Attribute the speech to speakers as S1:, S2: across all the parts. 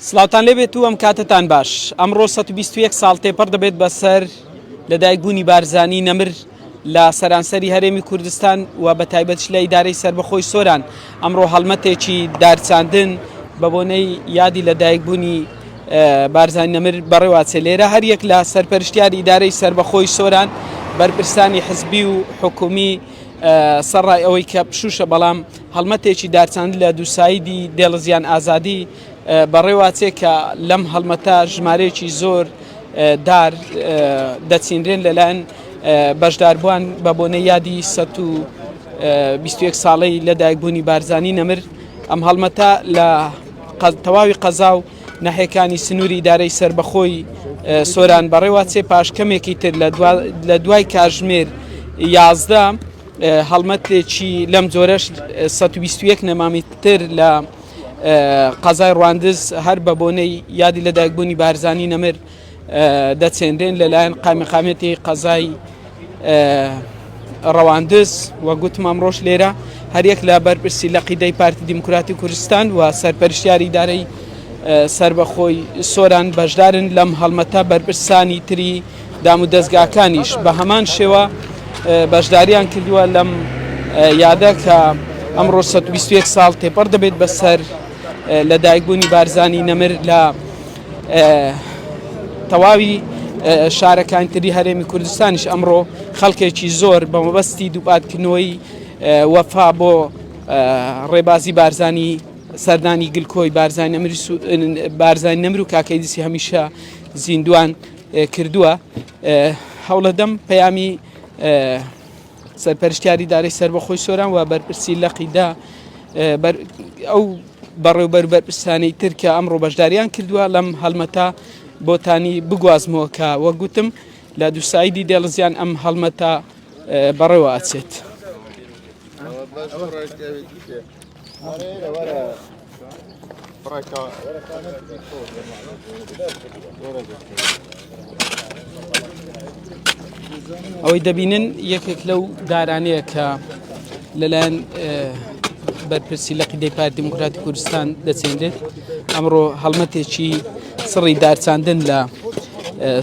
S1: سڵاوتان لێبێت و ئەم کاتتان باش ئەمڕۆ 121 ساڵ تێپەڕ دەبێت بەسەر لە دایکبوونی بارزانی نەمر لە سەرانسەری هەرێمی کوردستان و بە تایبەتش لە ئیدارەی سربەخۆی سۆران ئەمڕۆ هەڵمەتێکی دارچاندن بە بۆنەی یادی لە دایکبوونی بارزانی نەمر بەڕێواچێ لێرە هەر یەک لە سەرپەرشتیار ئیدارەی سربەخۆی سۆران بەرپرسانی حزبی و حکومی سەڕای ئەوەی کە پشوشە بەڵام هەڵمەتێکی دارچاند لە دووسایدی دێڵزیان ئازادی بەڕێواچێ کە لەم هەڵمەتە ژمارەیەکی زۆر دار دەچینرێن لەلایەن بەشداربووان بە بۆنە یادی 121 ساڵەی لەدایکبوونی بارزانی نەمر ئەم هەڵمەتە لە تەواوی قەزا و نەحێکانی سنووری دارەی سربەخۆی سۆران بەڕێواچێ پاش کەمێکی تر لە دوای کاژمێر یازدە هەڵمەتێکی لەم جۆرەش سەد و بیست و یەک نەمامی تر لە قەزای ڕواندز هەر بە بۆنەی یادی لەدایکبوونی بارزانی نەمر دەچێنرێن لەلایەن قامیقامێتی قەزای ڕەواندز و گوتم ئەمڕۆژ لێرە هەریەک لە بەرپرسی لە قیدەی پارتی دیموکراتی کوردستان و سەرپەرشیاری دارەی سربەخۆی سۆران بەشدارن لەم هەڵمەتە بەرپرسانی تری دامودەزگاکانیش بە هەمان شێوە بەشداریان کردووە لەم یادە کە ئەمڕۆ 121 ساڵ تێپەڕ دەبێت بەسەر لە دایکبوونی بارزانی نەمر لە تەواوی شارەکانتری هەرێمی کوردستانیش ئەمڕۆ خەڵکێکی زۆر بە مەبەستی دووپاتکردنەوەی وەفا بۆ ڕێبازی بارزانی سەردانی گلکۆی بارزانانی بارزانانی نەمر و کاکەیدیسی هەمیشە زیندوان کردووە هەوڵەدەم پەیامی سەرپەرشتیاری دارەی سربەخۆی سۆران و بەرپرسی لەقیدا ئەو بەڕێوبەر بەرپرسانی ترکە ئەمڕۆ بەشداریان کردووە لەم هەڵمەتا بۆتانی بگوازمەوە کە وەک گوتم لە دووسایدی دێڵزیان ئەم هەڵمەتا بەڕێوە ئەچێت. ئەوەی دەبینن یەکێک لەو دارانەیە کە لەلایەن بەرپرسی لە قیدەی پار دیموکراتی کوردستان دەچێنێت ئەمڕۆ هەڵمەتێکی سڕی دارچاندن لە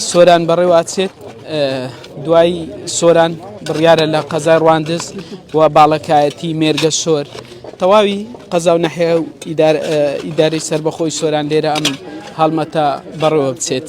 S1: سۆران بەڕێواچێت دوای سۆران بڕیارە لە قەزای ڕواندز و باڵەکایەتی مێرگە سۆر تەواوی قەزا و نەحێ و ئیداری سربەخۆی سۆران لێرە ئەم هەڵمەتە بەڕێوە بچێت.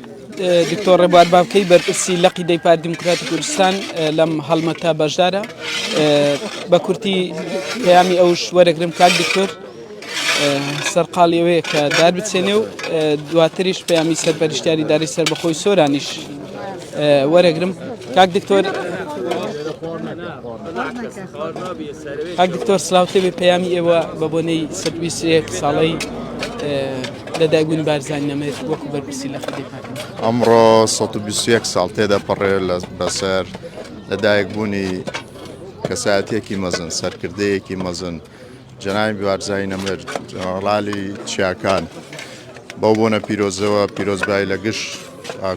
S1: دکتۆر ڕێبوار بابکەی بەرپرسی لقی دەی پارتی دیموکراتی کوردستان لەم هەڵمەتە بەشدارە بە کورتی پەیامی ئەوش وەرەگرم کاک دکتۆر سەرقاڵی ئەوەیە کە دار بچێنێ و دواتریش پەیامی سەرپەرشتیاری داری سەر بەخۆی سۆرانیش وەرەگرم کاک دکتۆر کاک دکتۆر سلااوتێبی پەیامی ئێوە بە بۆنەی سەرویسێک ساڵەی لە دایبوونی بارزانی نەمرێت وەکو
S2: بەرپرسی لە خەدی پاکن ئەمڕۆ 121 ساڵ تێدا پەڕێ لە بەسەر لە دایکبوونی کەسایەتێکی مەزن سەرکردەیەکی مەزن جەناوی بارزای نەمر جەنەڕالی چیاکان بەو بۆنە پیرۆزەوە پیرۆزبای لە گشت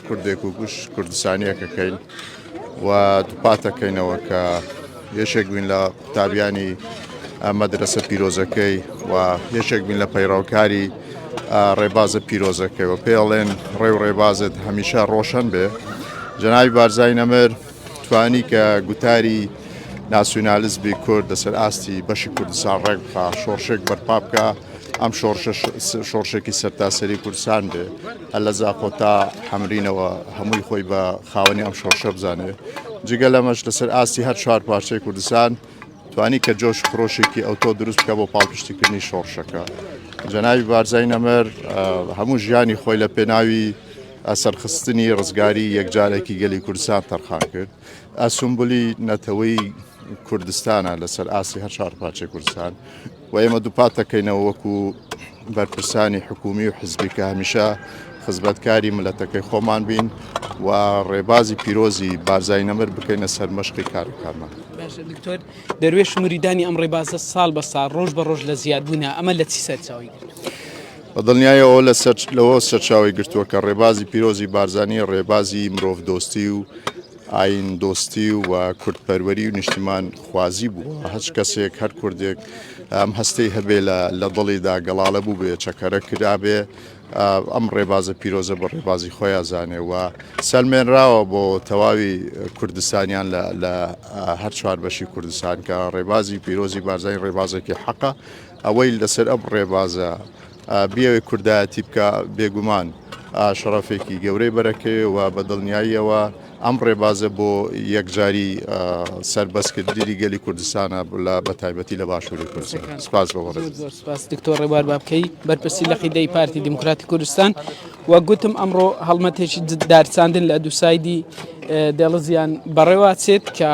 S2: کوردێک و گوش کوردستانیەکەکەین و دووپاتەکەینەوە کە یەکێک بووین لە قوتابیانی مەدرسە پیرۆزەکەی و یەکێک بووین لە پەیڕاوکاری ڕێبازە پیرۆزەکەی و پێڵێن ڕێ و ڕێبازت هەمیشە ڕۆشن بێ جەناوی بارزای نەمر توانی کە گوتاری ناسیونالیزمی کورد لەسەر ئاستی بەشی کوردستان ڕێک بخا شۆڕشێک بەرپا بکە ئەم شۆڕشێکی سەرتاسەری کوردستان بێ لە زاخۆ تا حەمرینەوە هەمووی خۆی بە خاوەنی ئەم شۆڕشە بزانێت جگە لەمەش لەسەر ئاستی هەر چوار پارچەی کوردستان توانی کە جۆش خرۆشێکی ئەوتۆ دروست بکە بۆ پاڵپشتیکردنی شۆڕشەکە جەناوی بارزای نەمەر هەموو ژیانی خۆی لە پێناوی ئەسەرخستنی ڕزگاری یەکجارێکی گەلی کوردستان تەرخان کرد ئەسمبولی نەتەوەی کوردستانە لەسەر ئاسی هەر چوار پارچەی کوردستان و ئێمە دووپات دەکەینەوە وەکو بەرپرسانی حکومی و حزبی کە هەمیشە خزمەتکاری ملەتەکەی خۆمان بین و ڕێبازی پیرۆزی بارزای نەمر بکەینە سەرمەشقی کارەکانمان دکتۆر
S1: دەروێش مریدانی ئەم ڕێبازە ساڵ بە ساڵ ڕۆژ بە ڕۆژ لە زیادبوونا ئەمە لە چی سەرچاوی بە
S2: دڵنیایەوە لە سەر لەوە سەرچاوی گرتووە کە ڕێبازی پیرۆزی بارزانانی ڕێبازی مرۆڤ دۆستی و ئایین دۆستی و کورد پەروەری و نیشتیمان خوازی بووە، هەچ کەسێک هەر کوردێک ئەم هەستەی هەبێ لە دڵیدا گەڵاڵە بووبێ چەکەرە کرابێ ئەم ڕێبازە پیرۆزە بە ڕێبازی خۆی ئەزانێ و سەلمێنراوە بۆ تەواوی کوردستانیان لە هەر چوار بەشی کوردستان کە ڕێبازی پیرۆزی بارزای ڕێبازێکی حەقە ئەوەی لەسەر ئەم ڕێبازە بیەوێ کوردایەتی بکا بێگومان شەڕەفێکی گەورەی بەرەکەێ و بە دڵنیاییەوە ئەم ڕێبازە بۆ یەکجاری سربەستکردنی گەلی کوردستانە لە بەتایبەتی لە باشووری کوردستان سپاس بۆ سپاس دکتۆر
S1: ڕێبار بابکەی بەرپرسی لە قیدەی پارتی دیموکراتی کوردستان و گوتم ئەمڕۆ هەڵمەتێکی دارساندن لە دووسایدی دێڵزیان بەڕێواچێت کە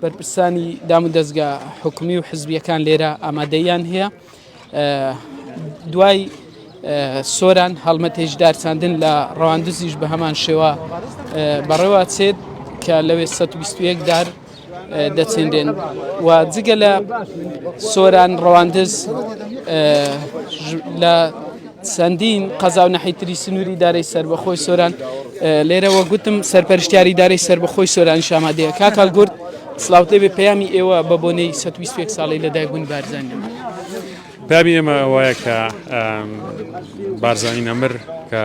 S1: بەرپرسانی دام و دەستگا حکومی و حزبیەکان لێرە ئامادەیان هەیە دوای سۆران هەڵمەتێکی دارچاندن لە ڕەواندزیش بە هەمان شێوە بەڕێوە چێت کە لەوێ 121 دار دەچێنرێن و جگە لە سۆران ڕەواندز لە چەندین قەزا و نەحیتری سنووری دارەی سربەخۆی سۆران لێرەوە گوتم سەرپەرشتیاری دارەی سربەخۆی سۆران شامادەیە کاکال گورد سڵاوت لێبێ پەیامی ئێوە بە بۆنەی سەد و بیست و یەک ساڵەی لەدایکبوونی بارزانی نەمر.
S3: پەیامی ئێمە وایە کە بارزانی نەمر کە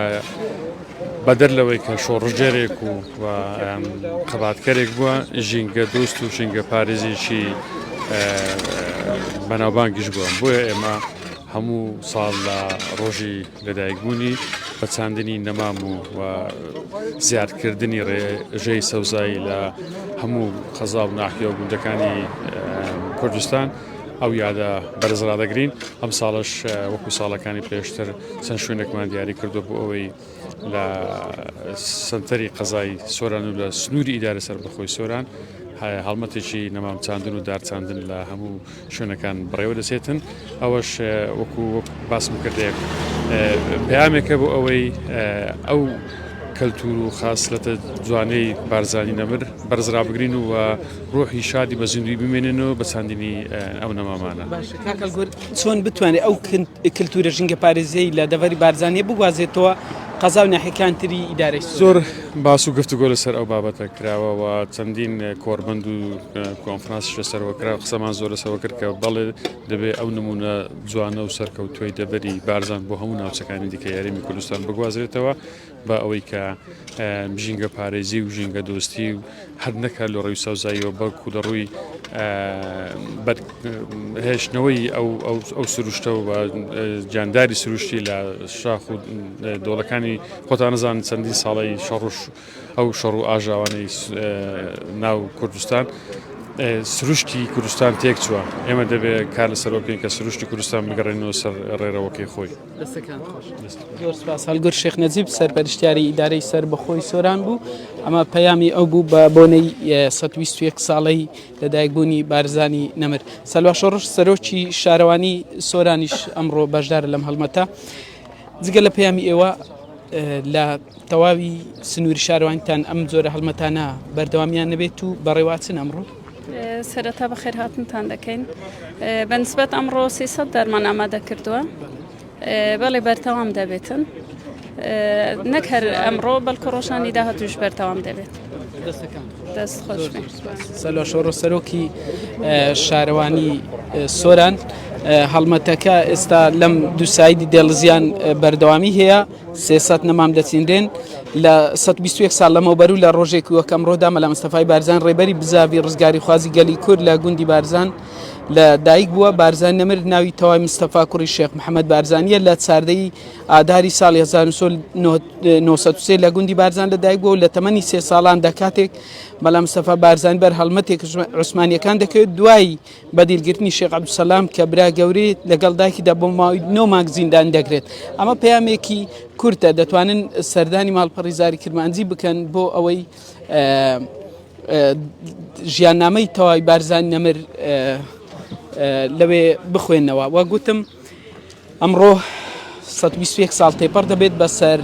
S3: بەدەر لەوەی کە شۆڕژێرێک و خەباتکەرێک بووە ژینگە دۆست و ژینگە پارێزیشی بەناوبانگیش بووە بۆیە ئێمە هەموو ساڵ لە ڕۆژی لەدایکبوونی بە چاندنی نەمام و زیادکردنی ڕێژەی سەوزایی لە هەموو قەزا و ناحیە و گوندەکانی کوردستان ئەو یادە بەرز ڕادەگرین ئەم ساڵش وەکو ساڵەکانی پێشتر چەند شوێنێکمان دیاری کردو بۆ ئەوەی لە سنتەری قەزای سۆران و لە سنووری ئیدارە سەربەخۆی سۆران هەڵمەتێکی نەمام چاندن و دارچاندن لە هەموو شوێنەکان بەڕێوە دەچێتن ئەوەش وەکو باسم کردێک پامێکە بۆ ئەوەی ئەو کەلتور و خاصلەتە جوانەی بارزانانی نەمر بەرزرا بگرین و ڕۆحی شادی بە زیندوی بمێنن و بە چاندنی ئەو نەمامانە
S1: چۆن بتوانێت ئەو کللتورە ژنگە پارێزەی لە دەڤری بارزانانی بگوازێتەوە قەزا و ناحەکان تری ئیدارەی زۆر باس
S3: و گفتوگۆ لەسەر ئەو بابەتە کراوە و چەندین کۆڕبەند و کۆنفرانسیش لەسەرەوە کرا قسەمان زۆر لەسەرەوە کرد کە بەڵێ دەبێ ئەو نمونە جوانە و سەرکەوتووی دەبەری بارزان بۆ هەموو ناوچەکانی دیکە یاریمی کوردستان بگوازرێتەوە بە ئەوەی کە ژینگە پارێزی و ژینگە دۆستی و هەر نەک هەر لە ڕووی سەوزاییەوە بەڵکوو لە ڕووی هێشتنەوەی ئەو سروشتەوە بە جانداری سروشتی لە شاخ و دۆڵەکانی خۆتان نزان چەندی ساڵی شەڕش ئەو شەڕ و ئاژاوانەی ناو کوردستان سروشتی کوردستان تێک چووە ئێمە دەبێت کار لەسەر بکەین کە سروشتی کوردستان بگەڕێنەوە سەر ڕێرەوەکەی خۆی.
S1: دەستەکان خۆش زۆر سپاس هەلگر شێخ نەجیب سەرپەرشتیاری ئیدارەی سەر بەخۆی سۆران بوو ئەمە پەیامی ئەو بوو بە بۆنەی 121 ساڵەی لەدایکبوونی بارزانی نەمر سەلوا شۆڕش سەرۆکی شارەوانی سۆرانیش ئەمڕۆ بەشدار لەم هەڵمەتە جگە لە پەیامی ئێوە لە تەواوی سنووری شارەوانتان ئەم جۆرە هەڵمەتانە بەردەوامیان نەبێت و بەڕێواچن ئەمڕۆ سەرەتا
S4: بەخێرهاتنتان دەکەین بەنسبەت ئەمڕۆ سیسەد دەرمان ئامادە کردووە بەڵێ بەرتەوام دەبێتن نەک هەر ئەمڕۆ بەڵکو ڕۆژانی داهاتوش بەرتەوام دەبێت دەست خۆش سەلۆ شۆڕۆ
S1: سەرۆکی شارەوانی سۆران هەڵمەتەکە ئێستا لەم دووسایدی دێڵزیان بەردەوامی هەیە سێ سەد نەمام دەچینرێن لە 121 سال لەمەوبەر و لە ڕۆژێکی وەکەم ڕۆدا مەلا مستەفای بارزان ڕێبەری بزاوی ڕزگاری خوازی گەلی کورد لە گوندی بارزان لە دایک بووە بارزان نەمر ناوی تەوای مستەفا کوڕی شێخ محەممەد بارزانیە لە چاردەی ئاداری ساڵی 1993 لە گوندی بارزان لە دایک بووە لە تەمەنی سێ ساڵان دەکاتێک مەلا مستەفا بارزان بەر هەڵمەتێک عوسمانیەکان دەکەوێت دوایی بە دیلگرتنی شێخ عەبدولسەلام کە برا گەورەی لەگەڵ دایکیدا بۆ ماوەی نۆ مانگ زیندان دەکرێت ئەمە پەیامێکی کورتە دەتوانن سەردانی ماڵپەڕی زاری کرمانجی بکەن بۆ ئەوەی ژیاننامەی تەواوی بارزان نەمر لەوێ بخوێنەوە وە گوتم ئەمڕۆ سەد و بیست و یەک ساڵ تێپەڕ دەبێت بەسەر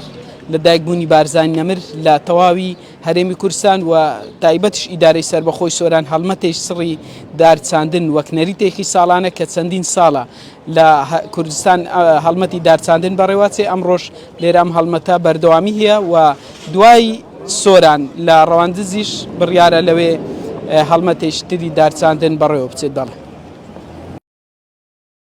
S1: لە دایکبوونی بارزانی نەمر لە تەواوی هەرێمی کوردستان و تایبەتش ئیدارەی سەربەخۆی سۆران هەڵمەتێک سڕی دار چاندن وەک نەریتێکی ساڵانە کە چەندین ساڵە لە کوردستان هەڵمەتی دار چاندن بەڕێواچێ ئەمڕۆش لێرە ئەم هەڵمەتە بەردەوامی هەیە و دوای سۆران لە ڕەواندزیش بڕیارە لەوێ هەڵمەتێکی تری دار چاندن بەڕێوە بچێت دەڵێ